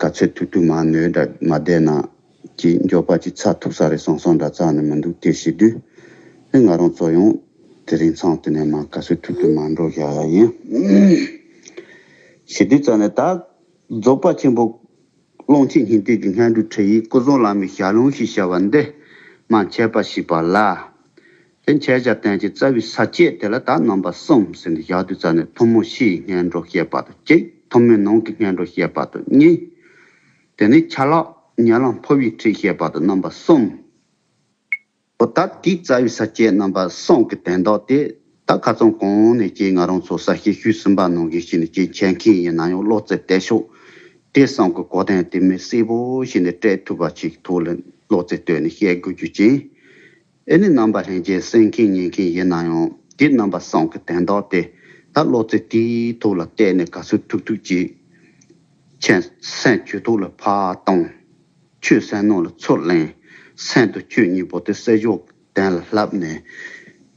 ག་ཚོད་ཐུག་ཐུག་མ་ནོས་འདྲ་མ་བསྡད་ན། ཀྱི་མགྱོགས་པ་ཅིག་ཚགས་ཐུབ་ས་རེད་སོང་སོང་འདྲ་ཙག་ནི་མི་འདུག་དེ་བྱེད་དུས། ཨེ་ང་རང་ཚོ་ཡང་དེ་རིང་ཚང་དེ་ནས་མ་ག་ཚོད་ཐུག་ཐུག་མ་འགྲོ་བཞག་ཡ་ཡིན། བྱེད་དུས་ཙག་ནི་ད། རྫོགས་པ་ཆེན་པོ། ཀློང་ཆེན་སྙིང་ཐིག་གི་སྔས་འབྲུག་ཁྲི་ཡི་སྐུ་གསུང་བླ་མའི་ཞལ་ལུང་ཞེས་བྱ་བ་འདི། མ་མཆེད་པ་ཞིག་པ་ལ། དེ་མཆེད་བྱ་བསྟན་གྱི་རྩ་བའི་ས་བཅད་དེ་ལ་དག་རྣམ་པ་གསུམ་ཟིན་ཏེ་ཞག་བདུན་རྩ་ནི་ཐུན་མོང་ཕྱི་ཡི་སྔས་འགྲོ་བཤད་པ་དང་གཅིག་ཐུན་མོང་ནང་གི་སྔས་འགྲོ་བཤད་པ་དང་གཉིས། དེ་ནས་ཆ་ལག་ཉལ་ལམ་ཕོ་བའི་ཁྲིད་བཤད་པ་དང་རྣམ་པ་གསུམ། པོ་ད་ལྟའི་རྩ་བའི་ས་བཅད་རྣམ་པ་གསུམ་གྱི་དན་རྟགས་དེ་དག་ཁ་ཚོན་གང་ནས་སྐྱེས་ང་རང་ཚོ་གསར་བཤད་ཤུལ་གསུམ་པ་ནང་གི་ཞིག་ནས་སྐྱེས་མཁྱེན་མཁན་ཡིན་ན་ཡང་བློ་རྩེ་གཏད་ཤོག་དེ་བསམ་གི་གོ་དན་དེ་མི་གསལ་པོ་ཞིག་ནས་སྤྲད་ཐུབ་པ་ཞིག་ཐུགས་ལ་བློ་རྩེ་གཏོད་ནས་བཤད་དགོས་རྒྱུ་ཅན། ཨེ་ནི་རྣམ་པར་ལྷན་སྐྱེས་གསན་མཁན་ཉན་མཁན་ཡིན་ན་ཡང་དེ་རྣམ་པ་སངས་ཀྱི་དན་རྟགས་ཏེ། ད་བློ་རྩེ་དེའི་ཐུགས་ལ་གཏད་ནས་ག་ཚོད་ཐུག་ཐུག་ཅིག་མཁྱེན། སེམས་ཁྱོད་ཐུགས་ལ་ཕར་གཏོང། ཁྱོད་སེམས་ནང་ལ་ཚུར་གླེང། སེམས་དང་ཁྱོད་གཉིས་པོ་དེ་བསལ་བཞག་གདན་ལ་བསླབས་ནས།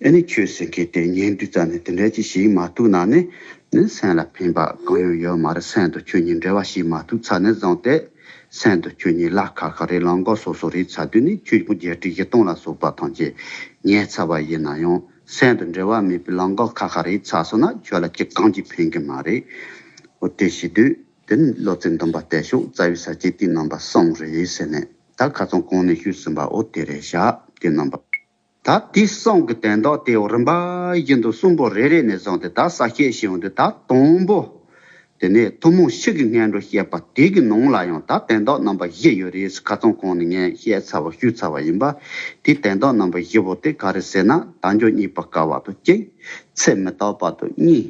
ཨེ་ནི་ཁྱོད་གསན་མཁན་དེ་ཉན་དུས་རྩ་ནས་དེ་འདྲ་ཅིག་ཞིག་མ་ཐུག་ན་ནི། ནི་སེམས་ལ་ཕན་པ་གང་ཡང་ཡོད་མ་རེད་སེམས་དང་ཁྱོད་གཉིས་འབྲེལ་བ་ཞིག་མ་ཐུག་ཚར་ནས་བཟང་སྟེ། གསན་དུ་ཁྱོད་གཉིས་གླགས་ཁ་ཁ་རེ་ལངས་གོ་སོ་སོ་རེ་ཚ་དུས་ནི་ཁྱོད་ཀྱི་བརྒྱད་ཁྲི་བཞི་སྟོང་ལ་སོགས་པ་ཐམས་ཅད་ཉལ་ཚར་བ་ཡིན་ན་ཡང་གསན་དུ་འབྲེལ་བ་མེད་པའི་ལངས་གོ་ཁ་ཁ་རེ་ཚ་སོང་ན་ཁྱོད་ལ་ཁྱི་གང་གྱིས་ཕན་གི་མ་རེད། འོ་དེ་ཤི་དུས་དེ་ནི་བློ་རྩེ་འདོམས་པ་བལྟས་ཤོག་རྩ་བའི་ས་སྐྱའི་དུས་རྣམ་པ་གསུམ་རེད་ཟེར་ནས་ད་ག་ཚང་གང་ནས་ཤོད་ཟིན་པའོ་དེ་རེད་ཤག་དུས་རྣམ་པ། ད་དེ་སྲང་གི་དན་ཏོག་དེའོ་རིམ་པ་བཞིན་དུ་གསུམ་པོ་རེ་རེ་ནས་བཟུང་སྟེ་ད་ས་ཤེས་ཤིང་འོང་དུས་ད་དང་པོ། དེ་ནས་ཐུན་མོང་གཤིས་ཀྱི་ངན་འགྲོ་བཤད་པ་དེ་གི་ནང་ལ་ཡང་ད་དན་ཏོག་རྣམ་པ་བཞི་ཡོད་རེད་ཁ་ཚོན་གང་ནས་ངས་བཤད་ཚར་བ་ཞུས་ཚར་བ་ཡིན་པ། དེ་དན་ཏོག་རྣམ་པ་བཞི་པོ་དེ་ག་རེ་ཟེར་ན་དལ་འབྱོར་གཉིས་པ་ཀ་བ་དང་གཅིག། ཚེ་མི་རྟག་པ་དང་གཉིས།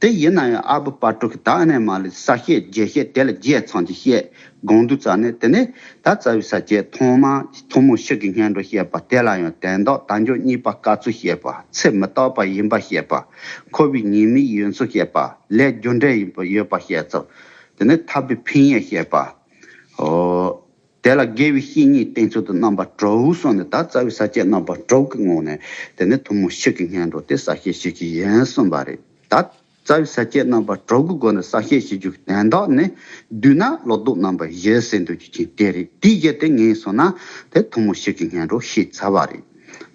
དེ་ཡིན་ན་ཡང་ཨ་བུ་དཔའ་དྲུག་གིས་ད་ཨ་ནེ་མ་ལི་ས་སྐྱེས་རྒྱལ་སྐྱེས་དེ་ལ་རྒྱའི་ཚང་གཅིག་བཤད་དགོངས་འདུག་ཙང་ནས་དེ་ནས་ད་རྩ་བའི་ས་སྐྱེས་ཐོག་མ་ཐུ་མོ་ཤི་གི་སྙན་སྒྲོ་བཤད་པ་དེ་ལ་ཡང་དན་ཏོག་དང་འཇོ་གཉིས་པ་བཀའ་ཚུལ་བཤད་པ་ཚེ་མི་རྟག་པ་ཡིན་པ་བཤད་པ་ཁོ་བོའི་ཉེ་མི་ཡི་ཡོན་ཚུལ་བཤད་པ་ལས་རྒྱུ་འབྲས་ཡིན་པ་ཡོད་པ་བཤད་ཙོ་དེ་ནས་ཐར་པའི་ཕན་ཡེ་བཤད་པའོ། དེ་ལ་དགེ་བའི་བཤེས་གཉེན་བསྟེན་ཚུལ་དུ་རྣམ་པར་གྲོལ་སོགས་ནི་ད་རྩ་བའི་ས་བཅད་རྣམ་པར་གྲོལ་གྱི་ངོགས་ནས་དེ་ནི་ཐུན་མོང་ཞིག་གི་སྙན་སྒྲོགས་ཏེ་ས་བཤད་ཞིག་གི་ཡན་གསུམ་པ་རེད་ད། རྩ་བའི་ས་བཅད་རྣམ་པར་གྲོལ་གྱི་སྒོ་ནས་ས་བཤད་བྱེད་རྒྱུ་གདན་དག་ནི་བསྡུས་ན་ལོ་ཏོག་རྣམ་པར་གཞལ་སའི་འདོད་རྒྱུ་ཅན་དེ་རེད་དེའི་གཞི་དེ་ངེས་སོང་ན་དེ་ཐུན་མོང་ཞིག་གི་སྙན་སྒྲོགས་ཞེས་བྱ་བ་རེད།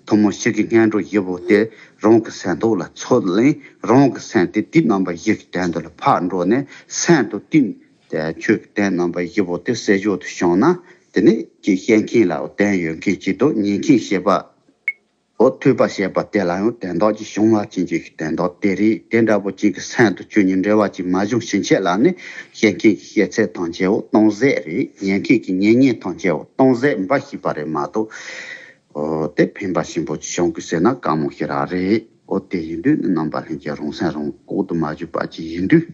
ཐུན་མོང་ཞིག་གི་སྙན་སྒྲོགས་བཞི་པོ་དེ་རང་གི་སེམས་རྟོགས་ལ་ཚོད་ལེན་རང་གི་སེམས་དེ་དུས་རྣམ་པ་བཞི་གི་གདན་དུ་ལ་ཕར་འགྲོ་ནས་སེམས་དང་དུས་དེ་ཆོས་ཀྱི་སྟན་རྣམ་པ་བཞི་པོ་དེ་སྲས་མཆོག་ཏུ་བྱུང་ན་དེ་ནི་ཀྱི་བཤད་མཁན་ལའོ་སྟན་ཡོད་མཁན་གྱི་དོ་ཉན་མཁན་བཤད་པའོ་ཐོས་པ་བཤད་པ་དེ་ལའང་དེ་མདོག་ཅིག་བྱུང་བ་ཅན་གྱི་དེ་མདོག་དེ་རིགས་དེ་འདྲ་པོ་ཅིག་གི་མཚན་དུ་ཆོས་ཉིད་འབྲེལ་བ་ཅིག་མ་བྱུང་ཕྱིན་ཆད་ལ་ནི་བཤད་མཁན་གྱི་བཤད་ཚད་ཐམས་ཅད་འོ་སྟོང་ཟད་རེད་ཉན་མཁན་གྱི་ཉན་ཉན་ཐམས་ཅད་འོ་སྟོང་ཟད་འབའ་ཞིག་པ་རེད་མ་གཏོགས། དེ་ཕན་པ་ཞིང་པོ་ཅིག་བྱུང་གི་ཟེར་ན་དཀའ་མོ་ཞིག་རག་རེད། ཨོ་དེ་ཡིན་དུས་ནི་རྣམ་པ་ལྷན་སྐྱེས་རང་སེམས་རང་ལྐོག་ཏུ་མ་བཞུགས་པ་ཅིག་ཡིན་དུས།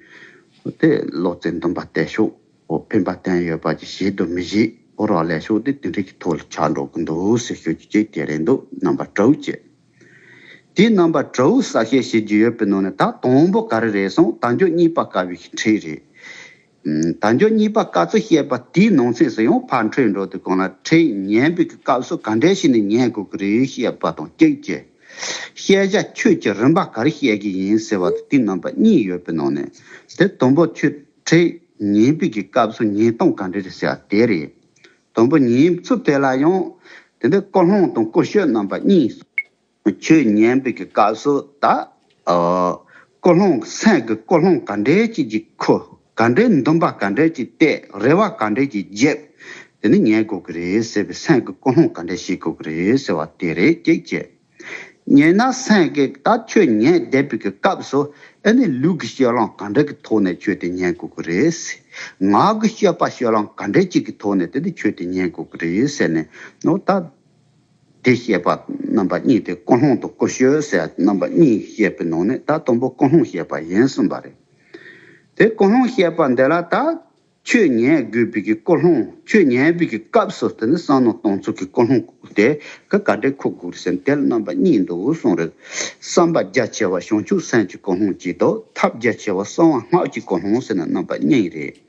ཨོ་དེ་བློ་རྩེ་འདོན་པ་བལྟས་ཤོག་ཨོ་ཕན་པ་བསྟན་ཡོད་པ་ཅིག་བྱེད་དུ་མི་བཞེད་ཨོ་རག་ལས་ཤོག་དེ་དེ་འདྲའི་གི་ཐོག་ལ་ཆགས་འགྲོ་གི་འདུག་ཟེར་ཤོག་རྒྱུ་རྐྱེན་དེ་རེད་འདུག་རྣམ་པ་དྲ་བོ་ཀྱེ། དེའི་རྣམ་པ་དྲ་བོའི་གསལ་བཤད་བྱེད་རྒྱུ་ཡོད་པའི་ནང་ནས་ད་དང་པོ་ག་རེ་རེད་གསུངས་ད་མགྱོགས་གཉིས་པ་དཀའ་བའི་གི་འཕྲེད་རེད། ད་མགྱོགས་གཉིས་པ་བཀའ་ཚོ་བཤད་པ་དེའི་ནང་ཚེས་སུ་ཡང་ཕར་འཕྲོས་འགྲོ་དུས་གང་ལ་ཁྲེལ་ཉན་པའི་གི་སྐབས་སུ་ག་འདྲའི་ཞིག་ནས་ཉན་དགོས་ཀྱི་རེད་བཤད་པ་དང་གཅིག་གྱི། བཤད་བྱ་ཁྱོད་ཀྱིས་རིམ་པ་ག་རེ་བཤད་ཀྱི་ཡིན་ཟེར་བ་དང་དེའི་རྣམ་པ་གཉིས་ཡོད་པའི་ནང་ནས་དེ་དང་པོ་ཁྱོད་ཁྲེལ་ཉན་པའི་གི་སྐབས་སུ་ཉན་སྟངས་ག་འདྲ་རེད་ཟེར་བ་དེ་རེད། དང་པོ་ཉན་ཚུལ་དེ་ལ་ཡང་དེ་འདྲའི་ཀོ་ལྷོང་དང་ཀོ་ཤོད་རྣམ་པ་གཉིས། ཁྱོད་ཉན་པའི་གི་བཀའ་སྲོལ་དག། ཀོ་ལྷོང་སེང་གི་ཀོ་ལྷོང་ག་འདྲའི་ཅིག་ཅིག་ཁུ། ག་འདྲའི་འདུམ་པ་ག་འདྲའི་ཅིག་བཏེག་རེ་བ་ག་འདྲའི་ཅིག་འཇེབས། དེ་ནི་ཉན་དགོས་གི་རེད་ཟེར་བའི་སེང་གི་ཀོ་ལྷོང་ག་འདྲའི་ཤེས་དགོས་གི་རེད་ཟེར་བ་དེ་རེད་ཀྱེ་ཀྱེ། ཉན་ན་སེང་གེ་ད་ཁྱོད་ཉན་བསྡད་པའི་གི་སྐབས་སུ་ཨེ་ནི་ལུས་ཀྱི་སྐྱོ་ལངས་ག་འདྲ་གི་ཐོག་ནས་ཁྱོད་དེ་ཉན་དགོས་གི་རེད། ངག་གི་སྐྱོ་པ་སྐྱོ་ལངས་ག་འདྲའི་ཅིག་གི་ཐོག་ནས་དེ་ནི་ཁྱོད་དེ་ཉན་དགོས་གི་རེད་ཟེར་ནས་ནོར་ད། དེ་ཤེས་པ་རྣམ་པ་གཉིས་དེ་ཀུན་སློང་དང་ཀུན་སྤྱོད་ཟེར་ཡ་རྣམ་པ་གཉིས་བཤད་པའི་ནང་ནས་ད་དང་པོ་ཀུན་སློང་བཤད་པ་ཡིན་གསུངས་པ་རེད། དེ་ཀུན་སློང་བཤད་པ་འདི་ལ་ད་ཆོས་ཉན་དགོས་པའི་གི་ཀུན་སློང་ཆོས་ཉན་པའི་གི་སྐབས་སུ་དེ་ནི་བསམ་མནོ་གཏོང་ཚུལ་གི་ཀུན་སློང་དེ་གི་ག་འདྲའི་ཁུག་དགོས་ཟེར་དེ་ལ་རྣམ་པ་གཉིས་འདུག་གསུངས་རེད། བསམ་པ་རྒྱ་ཆེ་བ་བྱང་ཆུབ་སེམས་ཀྱི་ཀུན་སློང་གཅིག་དང་ཐབས་རྒྱ་ཆེ་བ་གསང་བ་སྔགས་ཀྱི་ཀུན་སློང་ཟེར་ན་རྣམ་པ་གཉིས་རེད།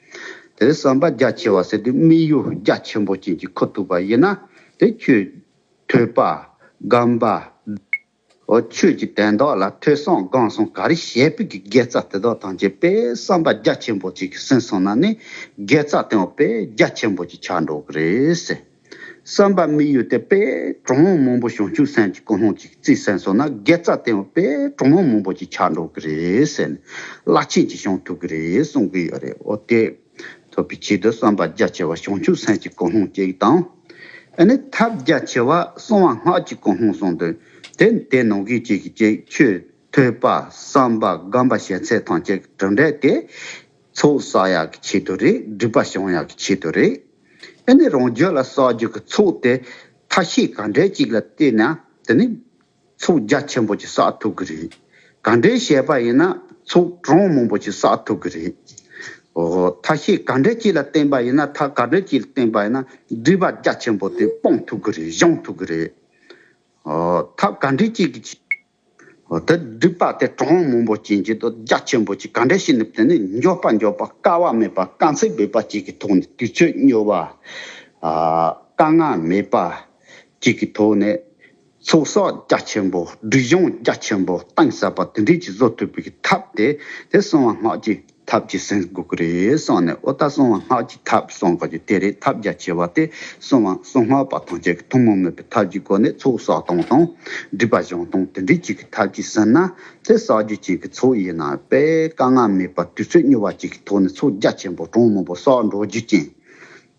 དེ་ལས་བསམ་པ་རྒྱ་ཆེ་བ་ཟེར་དུས་དམིགས་ཡུལ་རྒྱ་ཆེན་པོ་ཅན་གྱི་ཁུ་ཐུག་པ་ཡིན་ན་དེ་ཁྱོད། ཐོས་པ། སྒམ་པ། འོ་ཁྱོད་ཀྱི་དན་རྡོག་ལ་ཐོས་སོང་སྒང་སོང་ག་རེ་བྱས་པི་གི་དགེ་རྩ་དེ་དག་ཐམས་ཅད་པས་བསམ་པ་རྒྱ་ཆེན་པོ་ཅན་གྱི་ཟིན་སོང་ན་ནི་དགེ་རྩ་དེའང་པས་རྒྱ་ཆེན་པོ་ཅིག་ཆགས་འགྲོ་གི་རེད། བསམ་པ་མི་གཡོ་སྟེ་དཔལ་གྲོགས་མོ་མང་པོ་བྱང་ཆུབ་སེམས་ཀྱི་ཀུན་སློང་ཅིག་རྩིས་གསན་སོང་ན་དགེ་རྩ་བརྟན་བ་དཔལ་གྲོགས་མོ་མང་པོ་ཅིག་ཆགས་འགྲོ་གི་རེད་ཟེར་ནས་བླ་ཆེན་གྱིས་བྱང་ཐུབ་ཀྱི་རེད་གསུང་གི་ཡོད་རེད་འོ་དེ་ཐུབ་པའི་ཆེད་དུ་བསམ་པ་རྒྱ་ཆེ་བ་བྱང་ཆུབ་སེམས་ཀྱི་ཀུན་སློང་ཅིག་དང། ཨ་ནི་ཐབས་རྒྱ་ཆེ་བ་གསང་བ་སྔགས་ཀྱི་ཀུན་སློང་གསུངས་དོན་དེ་དེ་ནང་གི་གཅིག་གི་གཅིག་ཆོས་ཐོས་པ་བསམ་པ་སྒོམ་པ་བྱས་ཚད་ཐང་ཅིག་གྲུབ་འབྲས་དེ་ཚོགས་བསགས་ཡག་གི་ཆེད་དུ་རེད་སྒྲིག་པ་བྱུང་ཡག་གི་ཆེད་དུ་རེད། དེ་ནི་རང་རྒྱུད་ལ་བསགས་རྒྱུ་གི་ཚོགས་དེ་ཐ་ཤི་ག་འདྲའི་ཅིག་ལ་བལྟས་ན་དེ་ནི་ཚོགས་རྒྱ་ཆེན་པོ་ཅིག་བསགས་ཐུབ་གི་རེད། ག་འདྲའི་བཤད་པ་ཡིན་ན་ཚོགས་གྲངས་མང་པོ་ཅིག་བསགས་ཐུབ་གི་རེད། འོ་ཐ་ཤི་ག་འདྲའི་ཅིག་ལ་བརྟེན་པ་ཡིན་ན་ཐ་ག་འདྲའི་ཅིག་ལ་བརྟེན་པ་ཡིན་ན་སྒྲིབ་པ་རྒྱ་ཆེན་པོ་དེ་སྤང་ཐུབ་གི་རེད་བཤང་ཐུབ་གི་རེད། འོ་ཐ་ག་འདྲའི་ཅིག་གི་ཆེད་དུ་དེ་སྒྲིབ་པ་དེ་གྲང་བ་མང་པོ་བྱིན་གྱིས་དོ་རྒྱ་ཆེན་པོ་གྱིས་ག་འདྲས་ཤིག་ནུབ་དེ་ནི་འགྱོད་པ་འགྱོད་པ་དཀའ་བ་མེད་པ་དཀའ་ཚེགས་འབོད་པ་གཅིག་གི་ཐོག་ནས་དུས་ཚོད་སྨྱོ་བ། དཀའ་ངལ་མེད་པ་གཅིག་གི་ཐོག་ནས་ཚོགས་བསགས་རྒྱ་ཆེན་པོ་སྒྲིབ་སྦྱོང་རྒྱ་ཆེན་པོ་གཏིང་ཟབ་པ་དེ་འདྲས་ཀྱིས་བཟོ་ཐུབ་པའི་ཐབས་དེ་དེ་གསང་བ་སྔགས་ཀྱི་ཐབས་ཀྱི་སེམས་འགུག་གི་རེད་སོང་ནས་ཨོ་ད་སྲུང་བ་སྔགས་ཀྱི་ཐབས་སྲུང་དགོས་རྒྱུ་དེ་རེད་ཐབས་རྒྱ་ཆེ་བ་དེ་སྲུང་བ་སྲུང་སྔགས་པ་ཐམས་ཅད་ཀྱི་ཐུན་མོང་མོས་པའི་ཐབས་ཀྱི་སྒོ་ནས་ཚོགས་བསགས་སྟོང་དང། སྒྲིབ་པ་སྦྱང་སྟོང་དེ་འདྲའི་གཅིག་གི་ཐབས་ཀྱིས་ཟིན་ན་དེ་བསགས་རྒྱུ་ཅན་གྱི་ཚོགས་ཡིན་ན་པས་དཀའ་ངལ་མེད་པར་དུས་ཚོད་སྙོལ་བ་གཅིག་གི་ཐོག་ནས་ཚོགས་རྒྱ་ཆེན་པོ་གྲངས་མང་པོ་བསགས་འགྲོ་རྒྱུ་ཅན་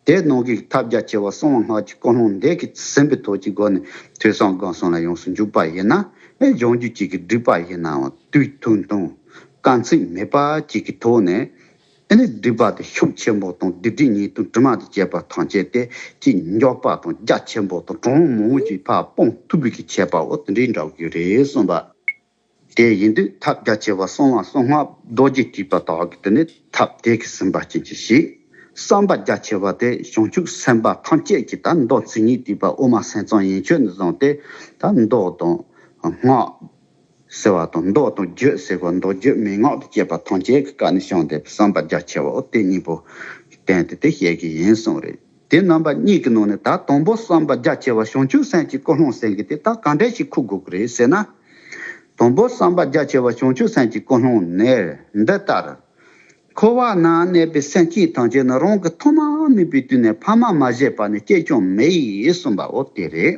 དེས་ནོངས་ཀྱི་ཐབས་རྒྱ་ཆེ་བ་གསང་བ་སྔགས་ཀྱི་སྐུ་ལྷུང་འདས་ཀྱི་སེམས་པའི་ཐོག་གི་སྒོ་ནས་ཐོས་བསམ་སྒོམ་གསུམ་ལ་ཡོངས་སུ་འཇུག་པ་ཡིན་ན། སྦྱོང་རྒྱུད་གཅིག་གི་སྒྲིབ་པ་ཡིན་ནའང་དུས་ཐུང་ཐུང། དཀའ་ཚེགས་མེད་པ་གཅིག་གི་ཐོག་ནས། དེ་ནས་སྒྲིབ་པ་དེ་ཤུགས་ཆེན་པོ་དང་བདུད་སྡིག་ཉེས་ལྟུང་དྲི་མ་དང་བཅས་པ་ཐམས་ཅད་དེ་ཀྱི་མགྱོགས་པ་དང་རྒྱ་ཆེན་པོ་དང་གྲང་མོ་བཞིན་ཕར་སྤོང་ཐུབ་པའི་ཁྱད་པའོ་དེ་འདྲའི་འདྲ་དགོས་རེད་གསུངས་པ། དེ་ཡིན་དུས་ཐབས་རྒྱ་ཆེ་བ་གསང་བ་གསང་སྔགས་རྡོ་རྗེ་བྲིས་པ་དག་གིས་དེ་ནི་ཐབས་དེ་གིས་ཟིན་པ་བྱིན་གྱིས་ཤིག། བསམ་པ་རྒྱ་ཆེ་བ་དེ་བྱང་ཆུབ་སེམས་དཔའ་ཐམས་ཅད་ཀྱི་ད་མདོ་མཚན་ཉིད་བྲིས་པ་དབུ་མ་སེམས་གཙང་ཡན་ཆོད་ནས་བཟུང་སྟེ་ད་མདོ་དང། སྔགས། ཟེར་བ་དང་མདོ་དང་རྒྱུད་ཟེར་བ་མདོ་རྒྱུད་མན་ངག་ཏུ་བསྐྱེད་པ་ཐམས་ཅད་ཀྱི་བཀའ་ནི་བྱང་སྡེ་པའི་བསམ་པ་རྒྱ་ཆེ་བའོ་དེ་གཉིས་པོ་བསྟན་ཏེ་དེ་བཤད་ཀྱི་ཡིན་གསུངས་རེད། དེ་རྣམ་པ་གཉིས་ཀྱི་ནང་ནས་ད་དང་པོ་བསམ་པ་རྒྱ་ཆེ་བ་བྱང་ཆུབ་སེམས་ཀྱི་ཀོ་ལྷོང་སེང་གེ་དེ་དག་གང་འདྲས་ཤིག་ཁུག་དགོས་ཀྱི་རེད་ཟེར་ན། དང་པོ་བསམ་པ་རྒྱ་ཆེ་བ་བྱང་ཆུབ་སེམས་ཀྱི་ཀོ་ལྷོང་ནས་འདི་ལྟར། འཁོར་བ་ན་གནས་པའི་སེམས་ཅན་ཐམས་ཅད་ནི་རང་གི་ཐོག་མ་མིན་པའི་དུས་ནས་ཕ་མ་མ་བཞེས་པ་ནས་སྐྱེས་སྐྱོང་མེད་གསུངས་པའོ་དེ་རེད།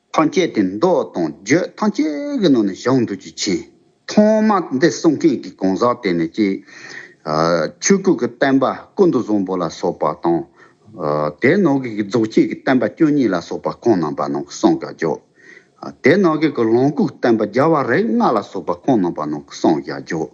ཐང་སྐྱེས་དེ་མདོ་དང་བརྗོད་ཐང་སྐྱེས་ཀྱི་ནང་ནས་བཞག་འདུག་རྒྱུ་མཁྱེན། ཐོག་མ་འདི་གསུང་མཁན་གྱི་གང་ཟག་དེ་ནི་སྐྱེས། ཆོས་ཀུན་གྱི་བསྟན་པ་ཀུན་ཏུ་བཟང་པོ་ལ་སོགས་པ་དང། དེའི་ནང་གི་རྫོགས་སྐྱེས་ཀྱི་བསྟན་པ་བཅུ་གཉིས་ལ་སོགས་པ་ཁོང་རྣམས་པ་ནང་གི་གསང་བཞག་རྒྱོགས། དེའི་ནང་གི་ལོངས་སྐུ་བསྟན་པ་བརྒྱ་བ་རིགས་ལྔ་ལ་སོགས་པ་ཁོང་རྣམས་པ་ནང་གི་གསང་བཞག་རྒྱོགས།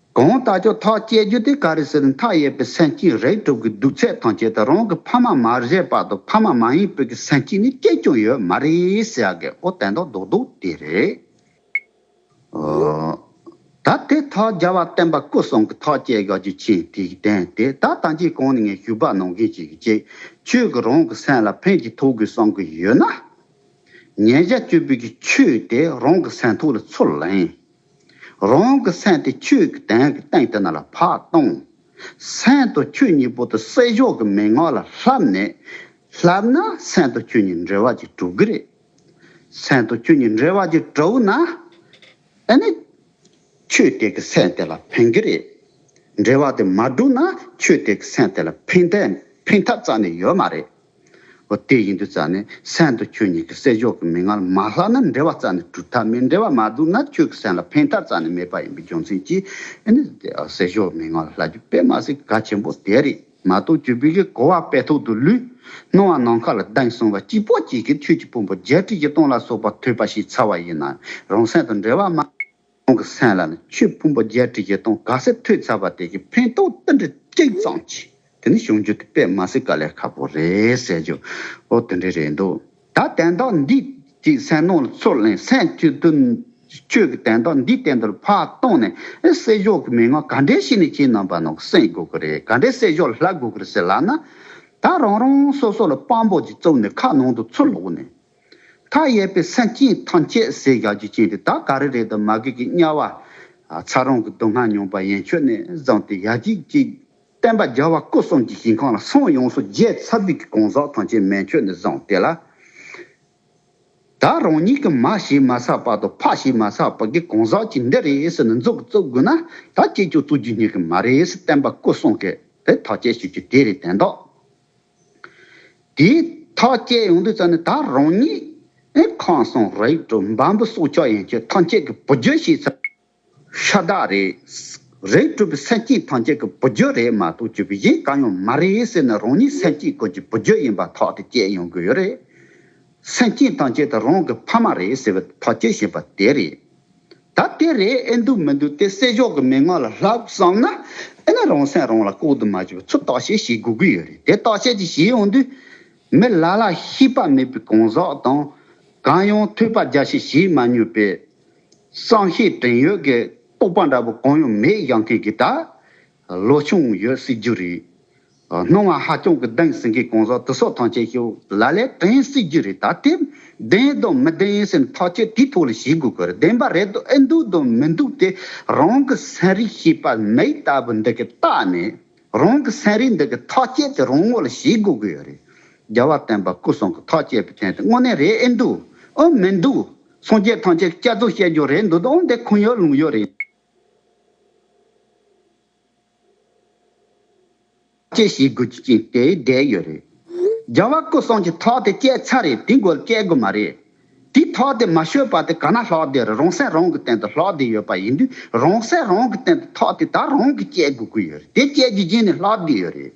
གང་ལྟ་ཅོག་ཐག་བཅད་རྒྱུ་དེ་ག་རེ་ཟེར་མཐའ་ཡས་པའི་སེམས་སྐྱིད་རེག་གྲུབ་ཀྱི་སྡུག་ཚད་ཐང་ཆད་དུ་རང་གི་ཕ་མ་མར་བཞེས་བར་དུ་ཕ་མ་མ་ཡིན་བོད་ཀྱི་སེམས་སྐྱིད་ནི་སྐྱེས་ཀྱང་ཡོད་མ་རེད་ཟེར་ཡག་གི་ཨོ་དན་ཏོག་དོག་དོག་དེ་རེད། ད་དེ་ཐག་རྒྱ་བ་བསྟན་པ་སྐུ་སྲོང་གི་ཐག་བཅད་ཡག་རྒྱུ་ཆེན་དེ་ཡི་དན་དེ་ད་ད་ཅི་གང་ནས་ངས་ཞུ་བ་གནང་མཁན་ཞིག་གིས་ཅིག་ཆོད་ཀྱི་རང་གི་སེམས་ལ་ཕན་ཅིག་ཐོག་དགོས་བསམ་གྱི་ཡོད་ན། ཉེས་བྱ་བཅོས་བུད་ཀྱི་ཆོས་དེ་རང་གི་སེམས་ཐོག་ལ་ཚུར་ལེན། རང་གི་སེམས་དེ་ཆོས་ཀྱི་དོན་གྱི་སྟེང་དེ་ན་ལ་བག་གཏོང། སེམས་དང་ཆོས་གཉིས་པོ་དེ་སྲས་ཕྱོགས་ཀྱི་མན་ངག་ལ་བསླབས་ནས། བསླབས་ན་སེམས་དང་ཆོས་གཉིས་འབྲེལ་བ་ཅིག་གྲུབ་གི་རེད། སེམས་དང་ཆོས་གཉིས་འབྲེལ་བ་ཅིག་གྲུབ་ན། དེ་ནས་ཆོས་དེ་གི་སེམས་དེ་ལ་ཕན་གི་རེད། འབྲེལ་བ་དེ་མ་གྲུབ་ན་ཆོས་དེ་གི་སེམས་དེ་ལ་ཕན་ཐབས་རྩ་ནས་ཡོད་མ་རེད། འོ་དེ་ཡིན་དུས་རྩ་ནས་གསན་ཏོ་ཁྱོད་གཉིས་ཀྱི་བསད་ཕྱོགས་ཀྱི་མི་སྔར་མ་ལྷག་ན་འབྲེལ་བ་རྩ་ནས་གྲུབ་མཐའ་མི་འབྲེལ་བ་མ་བསྡུར་ན་ཁྱོད་ཀྱི་གསན་ལ་ཕན་ཐབས་རྩ་ནས་མེད་པ་ཡིན་པའི་རྒྱུ་མཚན་གྱིས་ཨེ་ནས་དེ་བསད་ཕྱོགས་མི་སྔར་ལྷག་རྒྱུ་དཔེ་མ་ཟད་ག་ཆེན་པོ་དེ་རེད་མ་གཏོགས་ཁྱོད་བོད་ཀྱི་གོ་བ་དཔེ་ཐོག་ཏུ་ལུས། སྣང་བ་ནམ་མཁའ་ལ་གདངས་སོང་བ་སྐྱིད་པོ་སྐྱིད་ཀྱི་ཁྱོད་ཀྱི་དཔོན་པོ་རྒྱལ་ཁྲི་བཞི་སྟོང་ལ་སོགས་པ་ཐོས་པ་ཞིག་ཚར་བ་ཡིན་ན་རང་གསན་དང་འབྲེལ་བ་མ། ཁོང་གི་སེམས་ལ་ནི་ཆོས་ཕུང་པོ་བརྒྱད་ཁྲི་བཞི་སྟོང་ག་ཚད་ཐོས་ཚར་བ་དེ་གི་ཕན་ཐོགས་རྟེན་འབྲེལ་གཅིག་ཙམ་མཆིས་དེ་ནི་གཞུང་རྒྱུད་དུ་དཔེ་མ་ཟིག་ག་ལས་ཁ་པོ་རེད་ཟེར་རྒྱུ་འོ་དེ་འདྲའི་རེད་འདུག་ད་དན་དག་འདི་གི་སེམས་ནང་ལ་ཚུར་ལན་སེམས་བསྐྱུར་དུས་ནི་ཁྱོད་གི་དན་དག་འདི་དེ་འདྲར་ཕར་བཏང་ནས་བསྲེ་གཞོག་གི་མི་ང་ག་འདྲའི་ཞིག་ནས་བྱས་ནམ་པ་ནང་གསེང་དགོས་ཀི་རེད་ག་འདྲའི་བསྲེ་གཞོག་ལ་ལྷག་དགོས་ཀི་རེད་ཟེར་ལགས་ན། ད་རང་རང་སོ་སོ་ལ་དཔང་པོ་ཅིག་བཙུགས་ནས་ཁ་ནང་དུ་ཚུར་ལོག་ནས། མཐའ་ཡས་པའི་སེམས་ཅན་ཐམས་ཅད་ཟས་བཞག་རྒྱུ་ཅན་དེ་དག་ག་རེ་རེད་དམ་མ་གོས་ཀྱི་དམྱལ་བ། ཚ་རོང་གི་སྡུག་བསྔལ་མྱོང་པ་ཡན་ཆོད་ནས་བརྫངས་ཏེ་ཡ་གཅིག་གཅིག། བསྟན་པ་རྒྱལ་བ་སྐུ་གསུམ་གྱི་ཞིང་ཁམས་ལ་སོང་ཡོངས་སུ་རྒྱས་ཚར་དུས་ཀྱི་གང་ཟག་ཐམས་ཅད་མན་ཆོད་ནས་བརྫངས་ཏེ་ལ་དྭགས་རང་ཉིད་ཀྱི་མ་ཞེས་མ་བསགས་པ་དང་ཕ་ཞེས་མ་བསགས་པ་གི་གང་ཟག་ཅིག་འདི་རེད་ཟེར་ནས་མཛུབ་ཀྱིས་བཙུགས་དགོས་ན་ད་ཅིས་ཀྱང་བཙུགས་རྒྱུ་ཉན་གི་མ་རེད་ཟེར་བསྟན་པ་སྐུ་གསུམ་གྱིས་དེ་ཐག་བཅད་ཤོད་རྒྱུ་དེ་རེད་དན་ཏོ། དེའི་ཐག་བཅད་ཡོང་དུས་ཙམ་ནས་ད་རང་ཉིད་ཨེ་ཁང་སོང་ར་ཡིག་དྲུག་འབའ་འབུ་སྲོག་ཆགས་ཡན་ཆོད་ཐང་ཆད་ཀྱི་བུ་རྒྱུད་ཞེས་ཚ་ཤ་དག་རེད། རིགས་དྲུག་པའི་སེམས་སྐྱིད་ཐང་ཆད་ཀྱི་བུ་རྒྱུད་རེད་མ་གཏོགས་བཅུ་པའི་གཞན་གང་ཡང་མ་རེད་ཟེར་ན་རང་ཉིད་སེམས་སྐྱིད་སྐོར་གྱི་བུ་རྒྱུད་ཡིན་པ་ཐག་དེ་བཅད་ཡོང་དགོས་ཡོད་རེད། སེམས་བསྐྱེད་དང་བཅས་ཏེ་རང་གི་ཕ་མ་རེད་ཟེར་བའི་ཐག་བཅད་བཞིན་པ་དེ་རེད། ད་དེ་རེད་ཨེ་འདུག་མི་འདུག་དེ་སྲས་ཤོག་གི་མན་ངག་ལ་ལྷག་བསམ་ན་ཨེ་ན་རང་སེམས་རང་ལ་ལྐོག་ཏུ་མ་བྱེད་པར་ཚུར་བརྟག་དཔྱད་བྱེད་དགོས་ཀྱི་ཡོད་རེད་དེ་བརྟག་དཔྱད་ཅིག་བྱེད་ཡོང་དུས། མི་ལ་ལ་ཤེས་པ་མེད་པའི་གང་ཟག་དང། གང་ཡང་ཐོས་པ་རྒྱ་ཆེ་བྱེད་མ་མྱོས་པའི། བསམ་ཤེས་དྲན་ཡོད་ཀྱི་རྟོག་པ་འདྲ་པོ་གང་ཡང་མེད་བཞག་མཁན་གྱི་དགྲ། བློ་ཆུང་ཡོད་སྲིད་རྒྱུ་རེད། སྣང་བ་ཧ་ཅང་གི་བདེན་ཟིན་གི་གང་ཟག་དུ་སོགས་ཐང་ཆད་ཤོས་ལ་ལས་དྲན་སྲིད་རྒྱུ་རེད་ད་དེབ་བདེན་དང་མི་བདེན་སེམས་ཐག་ཆོད་དུས་ཐོག་ལ་བྱེད་དགོས་གི་རེད་བདེན་པ་རེད་དོ་ཨེ་འདུག་དང་མི་འདུག་དེ་རང་གི་ཟན་རིགས་ཤེས་པ་མེད་ལྟ་བུ་འདི་གི་རྟགས་ནི་རང་གི་ཟན་རིགས་འདི་གི་ཐག་ཆད་དེ་རང་ངོ་ལ་བྱེད་དགོས་གི་ཡོད་རེད་རྒྱལ་བ་བསྟན་པ་སྐུ་གསུང་གི་ཐག་ཆད་པའི་མཚན་དེ་དངོས་གནས་རེད་ཨེ་འདུག་ཨང་མི་འདུག་སངས་རྒྱས་ཐང་ཆད་སྐྱ་རྫོགས་བཤད་རྒྱུ་རེད་འདུག་དང་འདི་ཁུངས་ཡོད་ལུང་ཡོད་རེད། ཅེས་ཞིག་དགོས་རྒྱུ་ཅི་དེ་བསྡད་ཡོད་རེད། རྒྱལ་བ་སྐུ་སྲོང་གི་ཐོག་དེ་བསྐྱལ་ཚར་རེད་དེ་འགོལ་བསྐྱལ་དགོས་མ་རེད། དེའི་ཐོག་དེ་མ་ཤོད་པ་དེ་ག་ན་ལྷོག་བསྡད་རེད་རོང་སྲས་རོང་གི་སྟེང་དུ་ལྷོག་བསྡད་ཡོད་པ་ཡིན་དུས་རོང་སྲས་རོང་གི་སྟེང་དུ་ཐོག་དེ་ད་རོང་གི་བསྐྱལ་དགོས་ཀྱི་ཡོད་རེད་དེ་བསྐྱལ་རྒྱུ་རྗེས་ནས་ལྷག་བསྡད་ཡོད་རེད།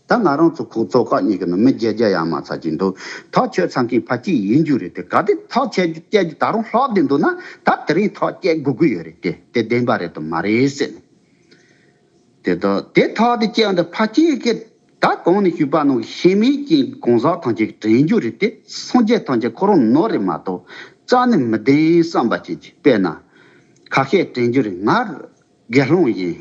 ད་ང་རང་ཚོ་ཁོག་བཙོག་ཁག་གཉིས་ཀྱི་ནང་མི་བརྒྱད་བརྒྱ་ཡང་མ་ཚར་གྱི་འདུག་ཐག་ཆོད་ཚང་མཁན་ཕ་སྐྱིད་ཡིན་རྒྱུ་རེད་དེ་ག་དུས་ཐག་ཆད་རྒྱུ་བསྐྱལ་རྒྱུ་ད་རུང་ལྷག་བསྡད་འདུག་ན་ད་དེ་རིང་ཐག་བསྐྱལ་དགོས་ཀྱི་ཡོད་རེད་དེ་དེ་བདེན་པ་རེད་དམ་མ་རེད་ཟེར་ནས། དེ་དག་དེ་ཐག་དེ་བསྐྱལ་འདི་ཕ་སྐྱིད་སྐད་ད་གང་ནས་ཤུད་པ་ནང་གི་ཤེས་མེད་ཀྱི་གང་ཟག་ཐམས་ཅད་དྲན་རྒྱུ་རེད་དེ་སངས་རྒྱས་ཐམས་ཅད་ཁོ་རང་ནོར་རེད་མ་གཏོགས་ཅང་ནས་མི་བདེན་བསམ་པ་ཅན་གྱི་དཔེ་ན་ཁ་ཤས་དྲན་རྒྱུ་རེད་ང་རང་དགེ་སློང་ཡིན།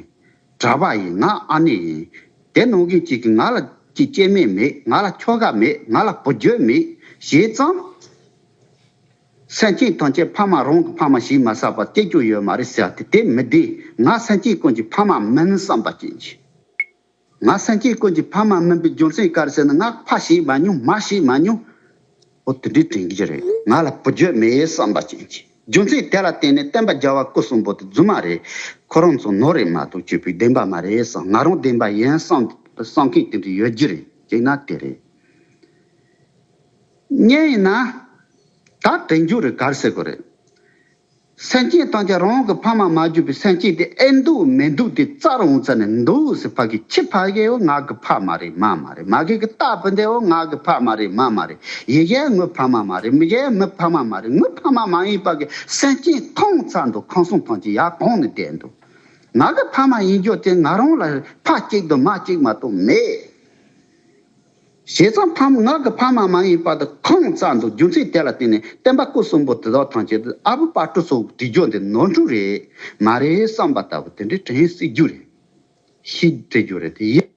གྲྭ་པ་ཡིན་ང་ཨ་ནེ་ཡིན། དེ་ནང་གི་གཅིག་གིས་ང་ལ་ཀྱི་སྐྱེ་མེད་མེད་ང་ལ་ཁྱོ་ག་མེད་ང་ལ་བུ་རྒྱུད་མེད་ཞེས་ཙང། སེམས་ཅན་ཐམས་ཅད་ཕ་མ་རང་གི་ཕ་མ་ཞིག་མ་བསགས་པར་སྐྱེ་རྒྱུ་ཡོད་མ་རེད་ཟེར་ཏེ་དེ་མི་བདེ་ང་སེམས་ཅན་ཀུན་གྱི་ཕ་མ་མིན་བསམ་པ་སྐྱེས། ང་སེང་གེའི་དཀོན་གྱི་ཕ་མ་སྨན་པའི་རྒྱུ་མཚན་དཀར་བསེ་ནི་སྔགས་ཕ་ཞེས་མ་མྱོང་མ་ཞེས་མ་མྱོང། འོ་དེ་འདྲའི་དྲན་གྱི་རེད་ང་ལ་བུ་རྒྱུད་མེད་ཡའི་བསམ་པ་ཅན་གྱིས་རྒྱུ་མཚན་དེ་ལ་བརྟེན་ནས་བསྟན་པ་རྒྱ་བ་སྐུ་གསུམ་པོ་དེ་རྫུན་མ་རེད། ཁོ་རང་ཚོ་ནོར་རེད་མ་གཏོགས་སྐྱེས་བུའི་བདེན་པ་མ་རེད་བསམ་ང་རང་བདེན་པ་ཡིན་བསམ་བསམ་མཁན་དེ་འདྲ་ཡོད་རྒྱུ་རེད་ཅེ་ན་དེ་རེད། གཉིས་ཡིན་ན། ད་དྲན་རྒྱུ་རེད་དཀར་བསེ་དགོས་རེད། སེམས་བསྐྱེད་བཏང་ཀྱང་རང་གི་ཕ་མ་མ་གྱུར་པའི་སེམས་བསྐྱེད་དེ་ཨེ་འདུག་མི་འདུག་དེ་རྩར་འོང་ཙ་ནས་འདུག་ཟེར་ཕ་གི་ཁྱི་ཕ་གའི་འོ་ངག་གི་ཕ་མ་རེད་མ་མ་རེད་མ་གའི་གི་སྟག་བུ་འདི་འོ་ངག་གི་ཕ་མ་རེད་མ་མ་རེད་ཡི་གའི་ངུ་ཕ་མ་མ་རེད་མི་གའི་མི་ཕ་མ་མ་རེད་ངུ་ཕ་མ་མ་ཡིན་ཕ་གི་སེམས་བསྐྱེད་ཐོངས་ཙ་འདུག་ཁང་སོང་ཐང་ཅིག་ཡར་གང་ནས་བསྡད་འདུག་ང་གི་ཕ་མ་ཡིན་རྒྱུ་དེ་ང་རང་ལ་ཕ་གཅིག་དང་མ་གཅིག་མ་གཏོགས་མེད། བྱས་ཙང་ཕ་མ་ངག་གི་ཕ་མ་མ་ཡིན་པ་དེ་ཁོང་བཙལ་འདུག་རྒྱུ་མཚན་དེ་ལ་བརྟེན་ནས་བསྟན་པ་སྐུ་གསུམ་པོ་དེ་དག་ཐང་ཆད་དུ་ཨ་བུ་དཔའ་སྤྲུལ་སོགས་བྲིས་རྒྱུ་འདི་ནོར་འཁྲུལ་རེད་མ་རེད་བསམ་པ་ལྟ་བུ་དེ་འདྲས་དྲན་སྲིད་རྒྱུ་རེད། ཤི་བྲི་རྒྱུ་རེད་དེ་ཡིན།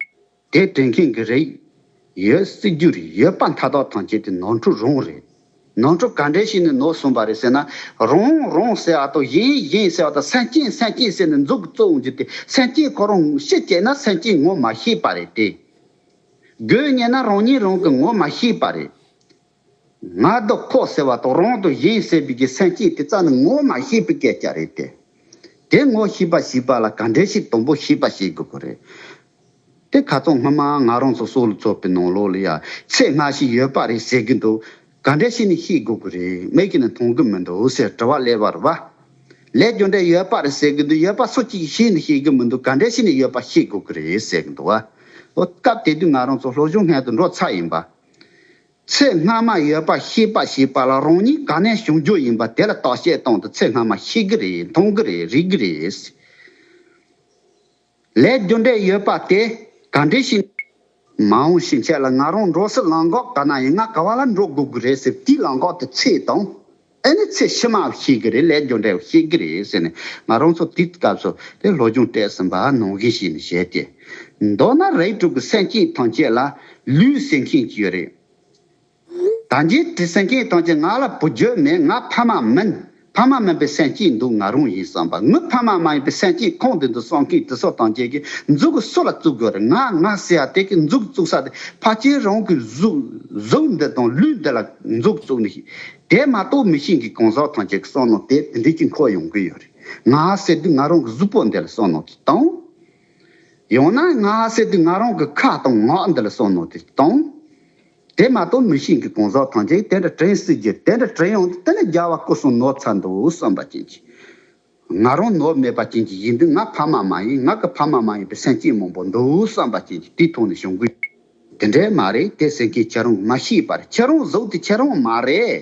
དེ་དྲན་མཁན་གྱི་རེད། ཡོད་སྲིད་རྒྱུ་རེད་ཡོད་པ་མཐའ་དག་ཐང་ཆད་དེ་ནོར་འཁྲུལ་རང་རེད། ནོར་འཁྲུལ་ག་འདྲས་ཤིག་ནས་ནོར་སོང་པ་རེད་ཟེར་ན། རང་རང་ཟེར་བ་དང་གཞན་གཞན་ཟེར་བ་དང་སེམས་ཅན་སེམས་ཅན་ཟེར་ནས་མཛུག་གི་གཙོ་བོ་འཇུག་སྟེ་སེམས་ཅན་ཁོ་རང་ཤི་བྱས་ན་སེམས་ཅན་ངོ་མ་ཤེས་པ་རེད་དེ། དགོས་ངེས་ན་རང་ཉིད་རང་གིས་ངོ་མ་ཤེས་པ་རེད། ང་རྡོ་ཁོག་ཟེར་བ་དང་རང་དང་གཞན་ཟེར་བའི་གི་སེམས་ཅན་དེ་ཙམ་ནི་ངོ་མ་ཤེས་པའི་སྐད་ཆ་རེད་དེ། དེ་ངོ་ཤེས་པ་ཞིག་པ་ལ་ག་འདྲས་ཤིག་དང་པོ་ཤེས་པ་ཤེས་དགོས་པ་རེད་དེ། ག་ཚོད་སྔོན་མ་ང་རང་ཚོ་སོག་ལུ་ཚོགས་པའི་ནང་ལོགས་ལ་ཡ་ཚད་སྔ་ཞིག་ཡོད་པ་རེད་ཟེར་གྱི་འདུག། ག་འདྲས་ཤེས་ནི་ཤེས་དགོས་ཀྱི་རེད་མེད་ཀྱི་ནི་མཐོང་གི་མི་འདུག་ཟེར་དྲི་བ་གླེ་བར་བ། ལས་རྒྱུ་འབྲས་ཡོད་པ་རེད་ཟེར་གྱི་འདུག་ཡོད་པ་སུ་གཅིག་གིས་ཤེས་ནི་ཤེས་ཀྱི་མི་འདུག་ག་འདྲས་ཤེས་ནི་ཡོད་པ་ཤེས་དགོས་ཀྱི་རེད་ཟེར་གྱི་འདུག་བ། ཨོ། སྐབས་དེ་དུས་ང་རང་ཚོ་ལྷོ་གཞུང་སྔལ་དུ་འགྲོ་ཚར་ཡིན་པ། ཚེ་སྔ་མ་ཡོད་པ་ཤེས་པ་ཞེས་པ་ལ་རང་ཉིད་ག་ནས་བྱུང་རྒྱུ་ཡིན་པ་དེ་ལ་བརྟག་དཔྱད་བཏང་དུ་ཚེ་སྔ་མ་ཤེས་ཀྱི་རེད་མཐོང་གི་རེད་རིག་གི་རེད། ལས་རྒྱུ་འབྲས་ཡོད་པ་དེ་ག་འདྲའི་ཞིང། མ་འོངས་ཞིང་ཆེན་ལ་ང་རང་འགྲོ་སྲིད་ལངས་གོག་ག་ན་ཡིན་ང་ག་བ་ལ་འགྲོ་དགོས་ཀྱི་རེད་ཟེར་དུས་ལངས་གོག་དེ་ཚེས་དང། ཨེ་ནི་ཚེས་ཕྱི་མའོ་ཤེས་ཀྱི་རེད་ལས་རྒྱུ་འབྲས་ཤེས་ཀྱི་རེད་ཟེར་ནས་ང་རང་ཚོ་དུས་སྐབས་སུ་དེ་བློ་སྦྱོང་སྤྲད་ཟིན་པ་ནང་བཞིན་བྱས་ནས་བཤད་དེ། མདོར་ན་རིགས་དྲུག་གི་སེམས་ཅན་ཐམས་ཅད་ལ་ལུས་སེམས་ཤེས་ཀྱི་ཡོད་རེད། ད་འཇིག་དྲི་སེང་གེའི་གཏམ་གྱིས་ང་ལ་བུ་བརྒྱུད་མེད་ང་ཕ་མ་མིན། ཕ་མ་མིན་པའི་སེམས་སྐྱེས་འདུག་ང་རང་ཡིན་བསམ་པ་ངུས་ཕ་མ་མ་ཡིན་པའི་སེམས་སྐྱེས་ཁོང་འདི་འདུག་བསམ་མཁན་དུ་སོ་དང་བཅས་ཀྱི་མཛུ་གུ་སུ་ལ་བཙུགས་དགོས་རེད་ང་ང་ཟེར་ཡ་དེ་གི་མཛུ་གུ་བཙུགས་ས་དེ་ཕ་ཁྱེད་རང་གི་གཟུགས་འདི་དང་ལུས་འདི་ལ་མཛུ་གུ་བཙུགས་ནི་ཤེས། དེ་མ་གཏོགས་མི་ཤེས་གི་གང་ཟག་ཐམས་ཅད་གི་བསམ་ནང་དེ་དེ་འདྲས་ཀྱི་འཁོར་ཡོང་གི་ཡོད་རེད་ང་ཟེར་དུས་ང་རང་གི་གཟུགས་པོ་འདི་ལ་བསམ་ནང་དེ་བཏང། ཡང་ན་ང་ཟེར་དུས་ང་རང་གི་ཁ་དང་ངག་འདི་ལ་བསམ་ནང་དེ་བཏང། དེ་མ་གཏོགས་མི་ཤེས་ཀྱི་གོང་ཟག་ཐང་ཅན་དེ་འདྲ་དྲན་སྲིད་རྒྱུ་དེ་འདྲ་དྲན་ཡོང་དུས་དེ་ནི་རྒྱལ་བ་སྐུ་གསུམ་ནོར་ཚ་འདུག་བསམ་པ་ཅན་གྱིས། ང་རང་ནོར་མེད་པ་ཅན་གྱི་ཡིན་དུས་ང་ཕ་མ་མ་ཡིན་ང་གི་ཕ་མ་མ་ཡིན་པའི་སེམས་སྐྱེད་མང་པོ་འདུག་བསམ་པ་ཅན་གྱིས་དེ་མཐོང་ནས་ཞོགས་གུས། དེ་འདྲས་མ་རེད་དེ་སེམས་སྐྱེད་ཁྱེད་རང་མ་ཤེས་པར་ཁྱེད་རང་གཟུགས་དེ་ཁྱེད་རང་མ་རེད།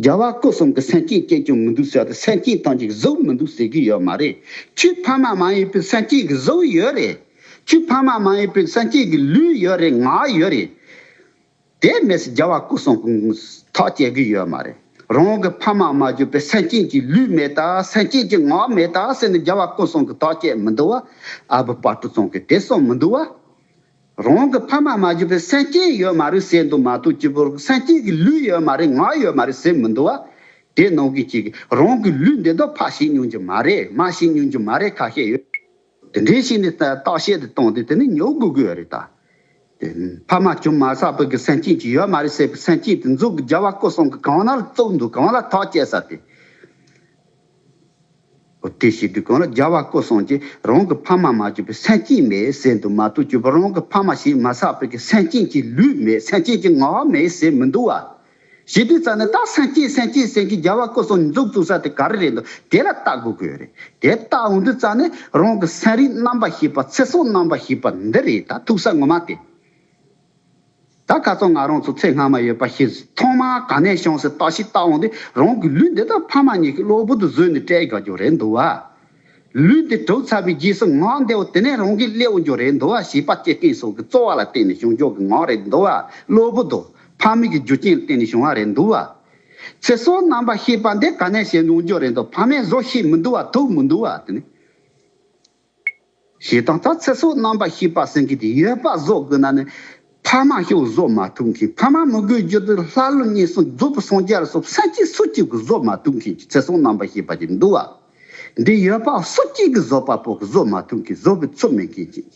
རྒྱལ་བ་སྐུ་གསུམ་གྱི་སེམས་ཅན་སྐྱེ་རྒྱུ་མི་འདུག་ཟེར་ཏེ་སེམས་ཅན་དང་གཅིག་བཟོ་མི་འདུག་ཟེར་གྱི་ཡོད་མ་རེད། ཁྱོད་ཕ་མ་མ་ཡིན་པའི་སེམས་ཅན་གྱི་བཟོ་བོ་ཡོད་རེད། ཁྱོད་ཕ་མ་མ་ཡིན་པའི་སེམས་ཅན་གྱི་ལུས་ཡོད་རེད་ངག་ཡོད་རེད། དེ་མེད་ཚེ་རྒྱལ་བ་སྐུ་གསུམ་གྱི་ཐག་བཅད་གི་ཡོད་མ་རེད། རང་གི་ཕ་མ་མ་གྱུར་པའི་སེམས་ཅན་གྱི་ལུས་མེད་ད་སེམས་ཅན་གྱི་ངག་མེད་ད་ཟེར་ནས་རྒྱལ་བ་སྐུ་གསུམ་གྱི་ཐག་བཅད་མི་འདུག་བ་ཨ་བུ་དཔའ་གྲུ་ཚང་གིས་དེ་གསུངས་མི་འདུག་བ། རང་གི་ཕ་མ་མ་གྱུར་པའི་སེམས་བསྐྱེད་ཡོད་མ་རེད་ཟེར་འདུག་མ་གཏོགས་སྐྱེས་བུར་སེམས་བསྐྱེད་ཀྱི་ལུས་ཡོད་མ་རེད་ངག་ཡོད་མ་རེད་ཟེར་མི་འདུག་བ། དེ་ནང་གི་གཅིག་གིས་རང་གི་ལུས་འདི་དག་ཕ་ཤེས་མྱོང་གྱི་མ་རེད་མ་ཤེས་མྱོང་གྱི་མ་རེད་ཁ་ཤས་ཡོད། དེ་འདྲའི་ཤེས་ནས་བརྟག་དཔྱད་དེ་བཏང་དུས་དེ་ནི་ཉོ་དགོས་དགོས་རེད་ད། དེ་ཕ་མ་ཅུང་མ་བསགས་པའི་གི་སེམས་བསྐྱེད་ཅིག་ཡོད་མ་རེད་ཟེར་བའི་སེམས་བསྐྱེད་དེ་མཛོད་ཀྱི་རྒྱལ་བ་སྐུ་གསུམ་གྱི་གང་ན་བཙུགས་འདུག་གང་ལ་ཐག་བཅད་ས་དེ། བཀྲེས་ཤིང་སྡུག་གང་ལ་སྦྱར་བ་ཀོ་སོང་རྗེས་རང་གི་ཕ་མ་མ་བཅོས་པའི་སེམས་ཅན་མའི་ཟས་འདུག་མ་གཏོགས་བཅོས་པ་རང་གི་ཕ་མ་ཞིག་མ་བསགས་པའི་གི་སེམས་ཅན་གྱི་ལུས་མེད་སེམས་ཅན་གྱི་ངག་མེད་ཟས་མི་འདུག་བ། ཞེས་དུས་རྩ་ནས་ད་སེམས་ཅན་སེམས་ཅན་སེམས་ཀྱི་སྦྱར་བ་ཀོ་སོང་མཛུབ་བཙུགས་ས་དེ་ག་རེ་རེད་འདུག་དེ་ལ་བལྟ་དགོས་གི་རེད་དེ་བལྟ་འོང་དུས་རྩ་ནས་རང་གི་སེམས་རིག་རྣམ་པ་ཞེས་པ་ཚེ་སྲོག་རྣམ་པ་ཞེས་པ་འདི་རེད་ད་ཐུག་ས་ངོ་མ་དེ། ད་ག་ཚོད་ང་རང་ཚོ་ཚེ་སྔ་མ་ཡོད་པ་ཤི་ཟིན་ཐོག་མར་ག་ནས་བྱུང་ཟེར་བརྟག་ཤི་བརྟག་འོང་དུས་རང་གི་ལུས་འདི་དང་ཕ་མ་གཉིས་ཀྱི་གློ་བུར་དུ་བཟོས་ནས་བསྐྲད་དགོས་རྒྱུ་རེད་འདུག་བ། ལུས་འདི་གྲུབ་ཚར་བའི་རྗེས་སུ་ངག་འདི་འོ་དེ་ནས་རང་གིས་སླེའོ་རྒྱུ་རེད་འདུག་བ་བྱིས་པ་སྐྱེ་རྐྱེན་སོགས་ཀྱི་རྩོལ་བ་ལ་བརྟེན་ནས་བྱུང་ཕྱོགས་ཀྱི་ངག་རེད་འདུག་བ། གློ་བུར་དུ། ཕ་མེས་ཀྱི་རྒྱུ་རྐྱེན་ལ་བརྟེན་ནས་བྱུང་བ་རེད་འདུག་བ། ཚེ་སྲོག་རྣམ་པར་ཤེས་པ་འདི་ག་ནས་བྱེད་འོང་རྒྱུ་རེད་འདུག་ཕ་མས་བཟོ་ཤེས་མི་འདུག་བ་ཐུག་མི་འདུག་བ། ཞེས་དང་ཐ་ཚིག་སོགས་རྣམ་པར་ཤེས་པ་སེང་གེ་དེ་ཡོད་པར་བཟོ་དགོས་ན་ནི། ཕ་མ་ཤོག་བཟོ་མ་ཐུབ་མཁན་ཕ་མ་མི་དགོས་རྒྱུ་དེ་ལྷ་ཀླུ་གཉན་སྲིན་རྫོད་པོ་སངས་རྒྱས་སོགས་སེམས་ཅན་སུ་གཅིག་གིས་བཟོ་མ་ཐུབ་མཁན་གྱི་ཚེ་སྲོག་རྣམ་པར་ཤེས་པ་ཅིག་འདུག་བ། འདི་ཡོད་པར་སུ་གཅིག་གིས་བཟོ་པ་པོ་བཟོ་མ་ཐུབ་མཁན་བཟོ་བའི་ཚོད་མེད་མཁན་ཅིག།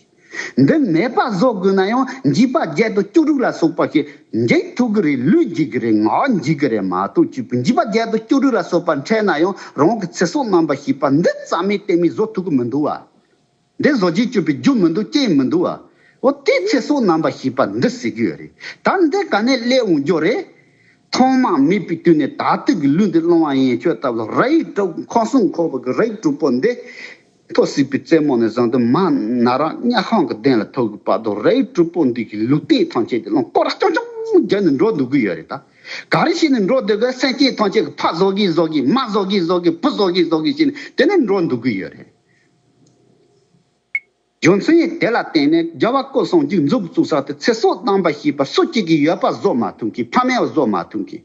འདི་མེད་པར་བཟོ་དགོས་ན་ཡང་འཇིགས་པ་བརྒྱད་དང་བཅུ་དྲུག་ལ་སོགས་པ་ཞིག་འཇིགས་ཐུབ་ཀྱི་རེད་ལུས་འཇིགས་ཀྱི་རེད་ངག་འཇིགས་ཀྱི་རེད་མ་གཏོགས་བཅུ་བུ་འཇིགས་པ་བརྒྱད་དང་བཅུ་དྲུག་ལ་སོགས་པ་འཕྲད་ན་ཡང་རང་གི་ཚེ་སྲོག་རྣམ་པར་ཞི་བ་འདི་རྩ་མེད་གཏན་མེད་བཟོ་ཐུབ་ཀྱི་མི་འདུག་བ། འདི་བཟོ་རྗེས་སྤྱོད་པའི་རྒྱུ་མི་འདུག་རྐྱེན་མི་འདུག་བ། འོ་དེས་ཚེ་སྲོག་རྣམ་པར་ཞི་བ་འདི་ཟེར་གྱི་ཡོད་རེད་ད། འདི་ག་ནས་སླེབས་འོང་རྒྱུ་རེད། ཐོག་མ་མེད་པའི་དུས་ནས་ད་ལྟོས་ཀྱི་ལུས་འདི་སློང་བ་ཡན་ཆོད་ལྟ་བུ་ལ་ར་ཡིག་གྲུབ་ཁོག་སྲུང་ཁོག་པ་གི་ར་ཡིག་གྲུབ་པོ་འདི། ཐོག་སྲིད་པའི་རྩེ་མོ་ནས་བཟུང་དུ་མ་ན་ར་གཉའ་ཤོང་གི་གདན་ལ་ཐུག་གི་བར་དུ་རའི་སྤྲུལ་པོ་འདི་གིས་ལུས་རྟེན་ཐང་ཆད་དེ་རླངས་འཁོར་ར་ཅོང་ཅོང་བརྒྱབ་ནས་འགྲོ་འདུག་གི་ཡོད་རེད་ད། ག་རེ་བྱས་ནས་འགྲོ་སྡོད་གི་སེམས་ཅན་ཐང་ཆད་གི་ཕ་བཟོ་གི་བཟོ་གི་མ་བཟོ་གི་བཟོ་གི་བུ་བཟོ་གི་བཟོ་གི་བྱས་ནས་དེ་ནས་འགྲོ་འདུག་གི་ཡོད་རེད། རྒྱུ་མཚན་དེ་ལ་བརྟེན་ནས་རྒྱལ་བ་སྐུ་གསུམ་གྱི་མཛུབ་བཙུགས་ས་དེ་ཚེ་སྲོག་བཏང་པ་ཞེས་པ་སུ་གཅིག་གིས་ཡོད་པ་བཟོ་མ་ཐུབ་གི་ཕ་མའི་བཟོ་མ་ཐུབ་གི།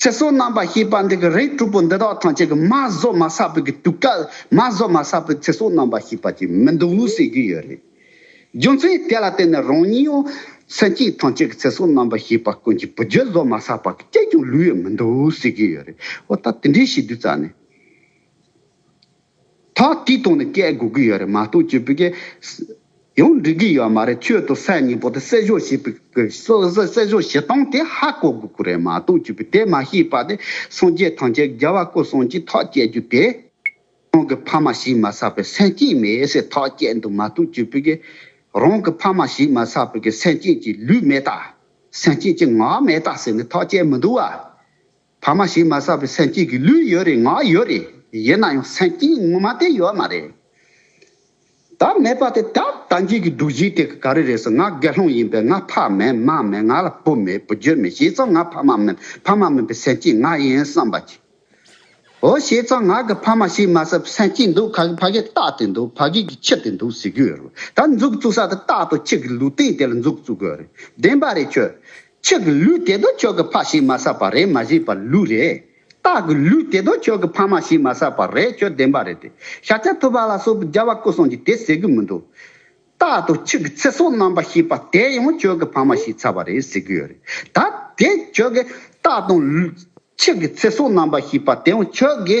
ཚེ་སྲོག་རྣམ་པར་ཤེས་པ་འདི་གི་རིགས་དྲུག་པོ་འདི་དག་ཐམས་ཅད་ཀྱི་མ་བཟོ་མ་ས་པོད་ཀྱི་དུས་སྐལ་མ་བཟོ་མ་ས་པོད་ཚེ་སྲོག་རྣམ་པར་ཤེས་པ་ཅིག་མི་འདུག་ཟེར་རྒྱུ་ཡོད་རེད། རྒྱུ་མཚན་དེ་ལ་བརྟེན་ནས་རང་ཉིད་འོ་སེམས་ཀྱིས་ཐམས་ཅད་ཀྱི་ཚེ་སྲོག་རྣམ་པར་ཤེས་པ་ཀུན་གྱི་བུ་རྒྱུད་བཟོ་མ་ས་པ་གི་སྐད་ཀྱང་ལུས་ཡོད་མི་འདུག་ཟེར་གྱི་ཡོད་རེད། འོ་ད་དེ་འདྲའི་བྱེད་དུས་རྩ་ནས། ད་དུས་ཐོག་ནས་སྐད་དགོས་ཀྱི་ཡོད་རེད་མ་གཏོགས་བཅོས་བུ་གས། ཡང་འགྲིག་གི་ཡོད་མ་རེད་ཁྱོད་ཚོ་སད་ཉིན་པོ་དེ་སད་ཞོག་ཞེས་པའི་སད་ཞོག་བྱེད་སྟངས་དེ་ཧ་གོ་དགོས་ཀྱི་རེད་མ་གཏོགས་བཅོས་བུ་དེ་མ་ཤེས་པ་དེ་སངས་རྒྱས་ཐང་ཆད་རྒྱལ་བ་ཀོ་སངས་ཀྱིས་ཐག་བཅད་རྒྱུ་དེ། རང་གི་ཕ་མ་ཞིག་མ་བསགས་པའི་སེམས་ཅན་མེད་ཟེར་ཐག་བཅད་འདུག་མ་གཏོགས་བཅོས་བུ་གས། རང་གི་ཕ་མ་ཞིག་མ་བསགས་པའི་སེམས་ཅན་གྱི་ལུས་མེད་ད། སེམས་ཅན་གྱི་ངག་མེད་ད་ཟེར་ནས་ཐག་བཅད་མི་འདུག་བ། ཕ་མ་ཞིག་མ་བསགས་པའི་སེམས་སྐྱིད་ཀྱི་ལུས་ཡོད་རེད་ངག་ཡོད་རེད་ཡིན་ན་ཡང་སེམས་སྐྱིད་ངོ་མ་དེ་ཡོད་མ་རེད། ད་མེད་པ་དེ་ད་ལྟ་འཇིག་གི་འདུག་གཞིས་དེ་ག་རེ་རེད་ཟེར་ང་དགེ་སློང་ཡིན་པས་ང་ཕ་མེད་མ་མེད་ང་ལ་བུ་མེད་བུ་རྒྱུད་མེད་ཤེས་ཙང་ང་ཕ་མ་མེད་ཕ་མ་མེད་པའི་སེམས་སྐྱིད་ང་ཡིན་བསམ་པ་གྱིས། འོ་ཤེས་ཙང་ང་གི་ཕ་མ་ཞིག་མ་བསགས་པའི་སེམས་སྐྱིད་འདུག་ག་གི་ཕ་གིས་རྟག་དེ་འདུག་ཕ་གིས་ཀྱི་ཁྱི་དེ་འདུག་ཟེར་གྱི་ཡོད་རེད་ད་འཛུགས་བཙུགས་ས་དེ་རྟག་ཏུ་ཁྱི་གི་ལུས་སྟེང་དེ་ལ་འཛུགས་བཙུགས་དགོས་རེད་བདེན་པ་རེད་ཁྱོད་ཕྱི་གི་ལུས་དེ་དོ་ཁྱོད་ཀྱི་ཕ་ཞིག་མ་བསགས་པ་རེད་མ་གཞི་བར་ལུས་རེད། རྟགས་ཀྱི་ལུས་དེ་དོ་ཁྱོད་ཀྱི་ཕ་མ་ཞིག་མ་བསགས་པ་རེད་ཁྱོད་བདེན་པ་རེད་དེ། ཤ་ཆ་ཐུབ་པ་ལ་སོགས་པའི་རྒྱལ་བ་སྐུ་གསུང་གིས་དེ་ཟེར་གི་མི་འདུག། རྟགས་དང་ཕྱི་གི་ཚེ་སྲོག་རྣམ་པར་ཤེས་པ་དེ་ཡང་ཁྱོད་ཀྱི་ཕ་མ་ཞིག་ཚར་བ་རེད་ཟེར་གི་ཡོད་རེད། ད་དེ་ཁྱོད་ཀྱི་རྟགས་དང། ཕྱི་གི་ཚེ་སྲོག་རྣམ་པར་ཤེས་པ་དེ་ཡང་ཁྱོད་ཀྱི།